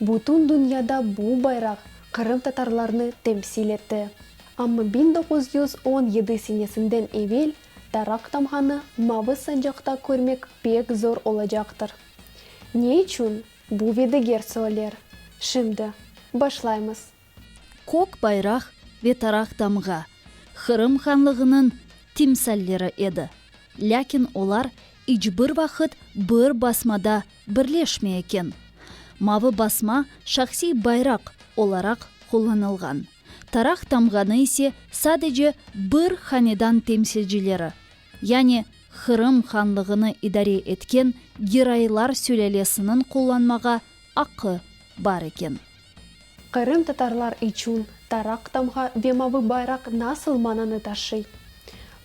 Bütün dünyada bu bayraq qırımtatarlarnı temsil etti. Amma bin doquz yüz on yedi senesinden evel Tarak tamğanı mavı sancaqta körmek pek zor olacaqtır. Ne içün? Bu ve diger söller şimdi başlaymız. Kök bayraq ve taraq tamğa, Qırım Hanlığınıñ timsalleri edi. Lâkin olar iç bir vaqıt bir basmada birleşmey eken. Mavı basma şahsiy bayraq olaraq qullanılğan, taraq tamğanı ise sadece bir hanedan temsilcileri, yani Qırım Hanlığını idare etken Giraylar sülâlesiniñ qullanmağa aqqı bar eken. Qırımtatarlar içün Taraq tamğa ve Mavı bayraq nasıl mananı taşıy?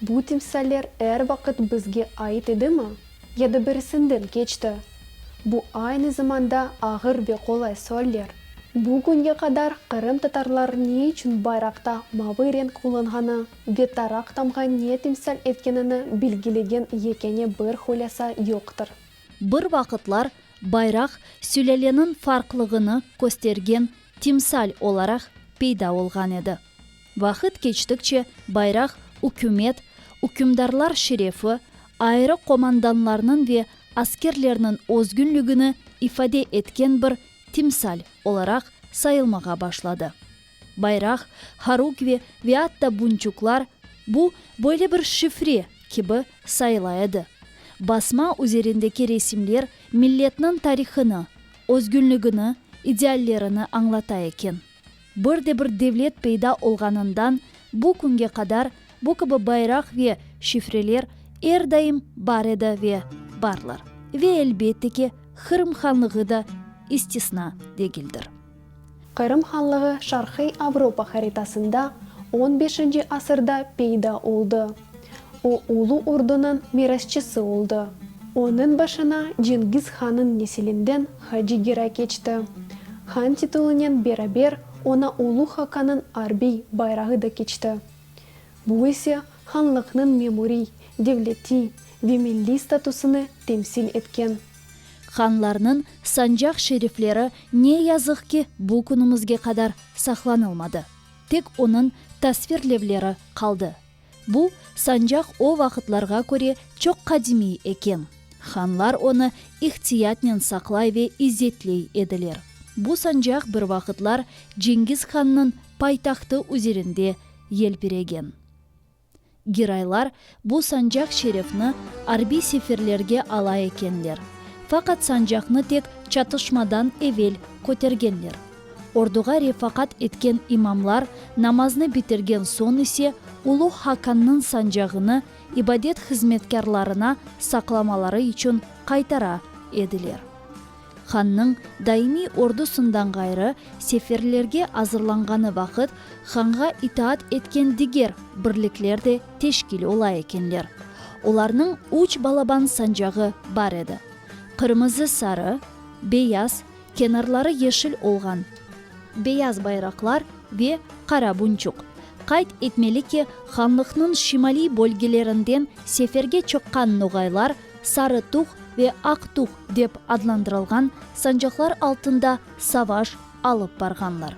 Bu timsaller er vaqıt bizge ait edimi? Ya da birisinden keçti? Bu aynı zamanda ağır ve qolay sualler. Bugünge qadar qırımtatarlar ne içün bayraqta mavı renk qullanğanı ve Taraq tamğa ne timsal etkenini bilgilegen yekâne bir hulâsa yoqtır. Bir vaqıtlar bayraq sülâleniñ farqlığını köstergen timsal olaraq peyda olğan edi. Vaqıt keçtikçe bayraq ükümet, ükümdarlar şerefi, ayrı qomandanlarnıñ ve askerlerniñ özgünligini ifade etken bir timsal olaraq sayılmağa başladı. bayraq, horukvi ve atta bunçuklar, bu, böyle bir şifre, kibi sayıla edi. Basma üzerindeki resimler milletniñ tarihını, özgünligini, ideallerini añlata eken. Bir de bir devlet peyda olğanından bu künge qadar bu kibi bayraq ve şifreler er daim bar edi ve barlar. Ve elbette ki, Qırım Hanlığı da istisna degildir. Qırım Hanlığı Şarqiy Avropa haritasında on beşinci asırda peyda oldı. O Ulu Ordunıñ mirasçısı oldı. Onıñ başına Cengiz Hanıñ nesilinden Hacı Gera keçti. Han titulunen beraber ona Ulu Hakanıñ arbiy bayrağı da keçti. Bu ise hanlıqnıñ memuriy, devletiy ve milliy statusını temsil etken. Hanlarnıñ sancaq şerifleri ne yazıq ki, bu künümizge qadar saqlanılmadı. Tek onıñ tasvirlevleri qaldı. Bu sancaq o vaqıtlarğa köre çoq qadimiy eken. Hanlar onı ihtiyatnen saqlay ve izzetley ediler. Bu sancaq bir vaqıtlar Cengiz Hannıñ paytahtı üzerinde yelpiregen. Giraylar bu sancaq şerefni arbiy seferlerge ala ekenler, faqat sancaqnı tek çatışmadan evel kötergenler. Orduğa refaqat etken imamlar namaznı bitirgen soñ ise Uluğ Haqannıñ sancağını ibadet hızmetkârlarına saqlamaları içün qaytara ediler. Hannıñ daimiy ordusından ğayrı seferlerge azırlanğanı vaqıt hanğa itaat etken diger birlikler de teşkil ola ekenler. Olarnıñ üç balaban sancağı bar edi, qırmızı-sarı, beyaz, kenarları yeşil olğan, beyaz bayraqlar ve qara bunçuq. Qayd etmeli ki, hanlıqnıñ şimaliy bölgelerinden seferge çıqqan noğaylar Sarı tüh ve aq tüh dep adlandırılğan sancaqlar altında savaş alıp barğanlar.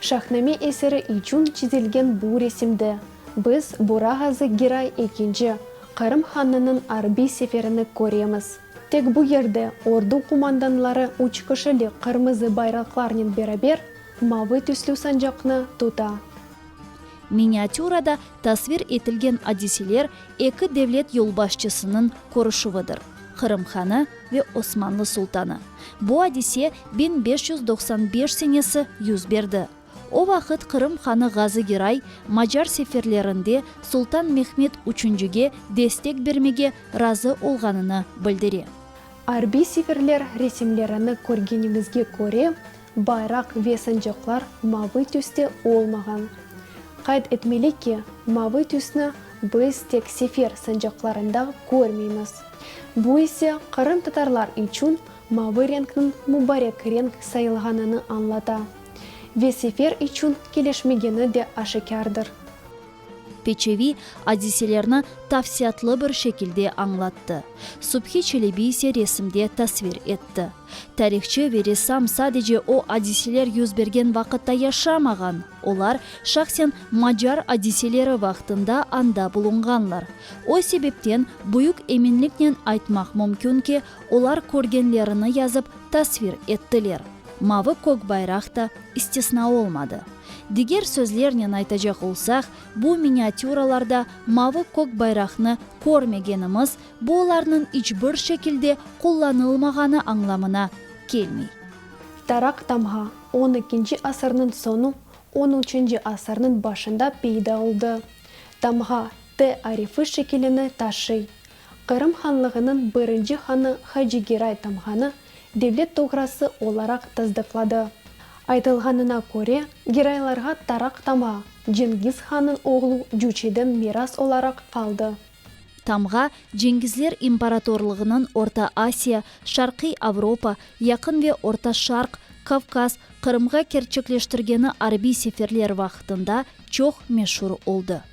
Şahname eseri içün çizilgen bu resimde biz Bora Ğazı Giray ekinci Qırım Hanınıñ arbiy seferini köremiz. Tek bu yerde ordu qumandanları üç kişilik qırmızı bayraqlarnen beraber mavı tüslü sancaqnı tuta. Miniatürada Tasvir etilgen adiseler eki devlet yolbaşçısınıñ körüşüvidir, Qırım hanı ve Osmanlı sultanı. Bu adise biñ beş yüz doqsan beş senesi yüz berdi. O vaqıt Qırım hanı Ğazı Giray macar seferlerinde sultan Mehmet üçüncige destek bermege razı olğanını bildire. Arbiy seferler resimlerini körgeniñizge köre, Bayraq ve sancaqlar mavıy tüste olmağan. Qayd etmeli ki, mavıy tüsni biz tek sefer sancaqlarında körmeymiz. Bu ise qırımtatarlar içün mavıy renkniñ mubarek renk sayılğanını añlata ve sefer içün kelişmegeni de aşikârdır. Peçevi adiselerni tafsiyatlı bir şekilde añlattı. Subhi Çelebi ise resimde tasvir etti. Tarihçı ve ressam sadece o adiseler yüz bergen vaqıtta yaşamağan, olar şahsen macar adiseleri vaqtında anda bulunğanlar. O sebepten büyük eminliknen aytmaq mümkün ki, olar körgenlerini yazıp tasvir ettiler. Mavı kök bayraq ta istisna olmadı. Diger sözlernen aytacaq olsaq, bu miniatüralarda mavı kök bayraqnı körmegenimiz, bu olarnıñ iç bir şekilde qullanılmağanı añlamına kelmey. Tarak tamğa on ekinci asırnıñ soñu, on üçünci asırnıñ başında peyda oldı. Tamğa T arifi şekilini taşıy, Qırım Hanlığınıñ birinci hanı Hacı Geray tamğanı devlet toğrası olaraq tasdıqladı. Aytılğanına köre, Geraylarğa Taraq tama, Cengiz Hannıñ oğlu Cüçeden miras olaraq qaldı. Tamğa, Cengizler imparatorlığınıñ Orta Asiya, Şarqiy Avropa, Yaqın ve Orta Şarq, Kavkaz, Qırımğa kerçekleştirgeni arbiy seferler vaqıtında çoq meşur oldı.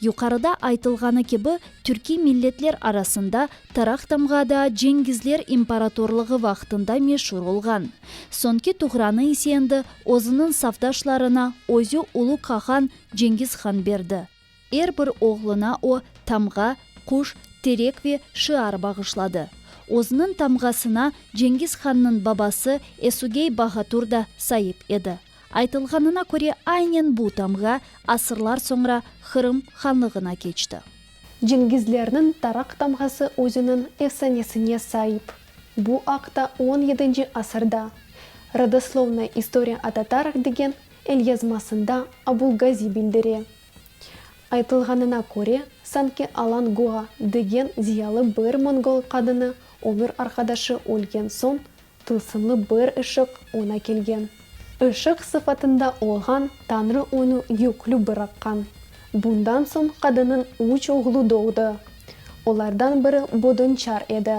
Yuqarıda aytılğanı kibi, türkiy milletler arasında Tarak tamğa da Cengizler imparatorlığı vaqtında meşur olğan. Soñki tuğranı ise endi özüniñ safdaşlarına özü ulu qahan Cengiz han berdi. Er bir oğluna o, tamğa, quş, terek ve şiar bağışladı. Özüniñ tamğasına Cengiz hannıñ babası Esugey Bahatur da saip edi. Aytılğanına köre, aynen bu tamğa asırlar soñra Qırım Hanlığına keçti. Cengizlerniñ tarak tamğası özüniñ efsanesine saip. Bu aqta on yedinci asırda Rodoslovnaya istoria o tatarah degen elyazmasında Abulgazi bildire. Aytılğanına köre, sanki Alangoa degen ziyalı bir mongol qadını ömür arqadaşı ölgen soñ Tılsımlı bir ışıq oña kelgen. Işıq sıfatında olğan Tañrı onı yüklü bıraqqan. Bundan soñ qadınnıñ üç oğlu doğdı. Olardan biri Bodonçar edi.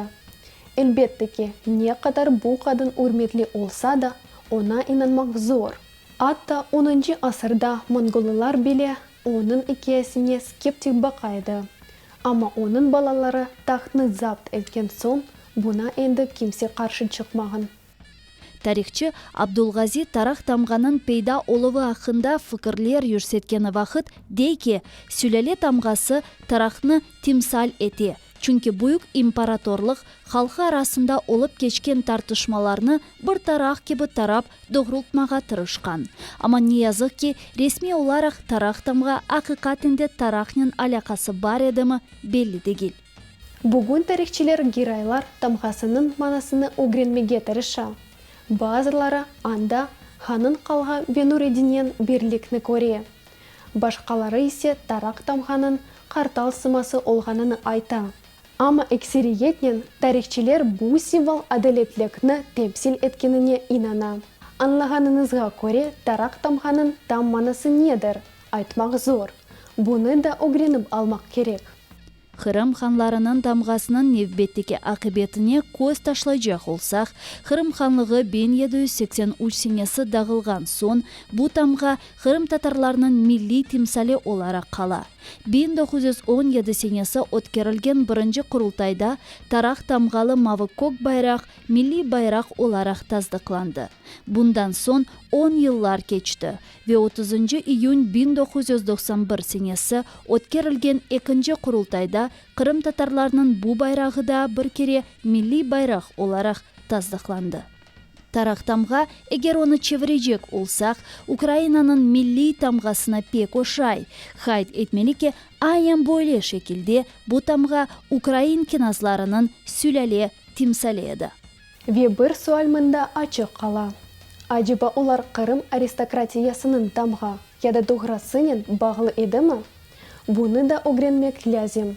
Elbette ki, ne qadar bu qadın ürmetli olsa da, oña inanmaq zor. Atta onuncu asırda mongolılar bile onıñ ikâyesine skeptik baqa edi. Amma onıñ balaları tahtnı zapt etken soñ, buna endi kimse qarşı çıqmağan. Tarihçı Abdulgazi Tarah tamğanıñ peyda oluvı aqqında fikirler yürsetkeni vaqıt, dey ki, sülâle tamğası Tarahnı timsal ete, çünki büyük imparatorlıq halqı arasında olıp keçken tartışmalarnı bir tarah kibi tarap doğrultmağa tırışqan. Amma ne yazıq ki, resmiy olaraq Taraq tamğa aqiqaten de Taraqnen alâqası bar edimi, belli degil. Bugün tarihçiler Giraylar tamğasınıñ manasını ögrenmege tırışa. Bazıları anda Hanıñ qalğa ve Nureddinen birlikni köre. Başqaları ise Taraq tamğanıñ qartal sıması olğanını ayta. Amma ekseriyetnen tarihçiler bu simvol adaletlikni temsil etkenine inana. Añlağanıñızğa köre taraq tamğanıñ tam manası nedir, aytmaq zor. Bunı da ögrenip almaq kerek. Qırım hanlarınıñ tamğasınıñ nevbetteki aqibetine köz taşlaycaq olsaq, Qırım hanlığı biñ yedi yüz seksen üç senesi dağılğan soñ, bu tamğa qırımtatarlarnıñ milliy timsali olaraq qala. Biñ doquz yüz on yedi senesi ötkerilgen birinci Qurultayda taraq tamğalı mavı-kök bayraq milliy bayraq olaraq tasdıqlandı. Bundan soñ on yıllar keçti ve otuzıncı iyün biñ doquz yüz doqsan bir senesi ötkerilgen ekinci Qurultayda qırımtatarlarnıñ bu bayrağı daa bir kere milliy bayraq olaraq tasdıqlandı. Taraq tamğa, eger onı çevirecek olsaq, Ukrainanıñ milliy tamğasına pek oşay. Qayd etmeli ki, aynen böyle şekilde bu tamğa ukrain knâzlarınıñ sülâle timsali edi. Ve bir sual mında açıq qala, aceba olar Qırım aristokratiyasınıñ tamğa, ya da doğrasınen, bağlı edimi? Bunı da ögrenmek lâzim.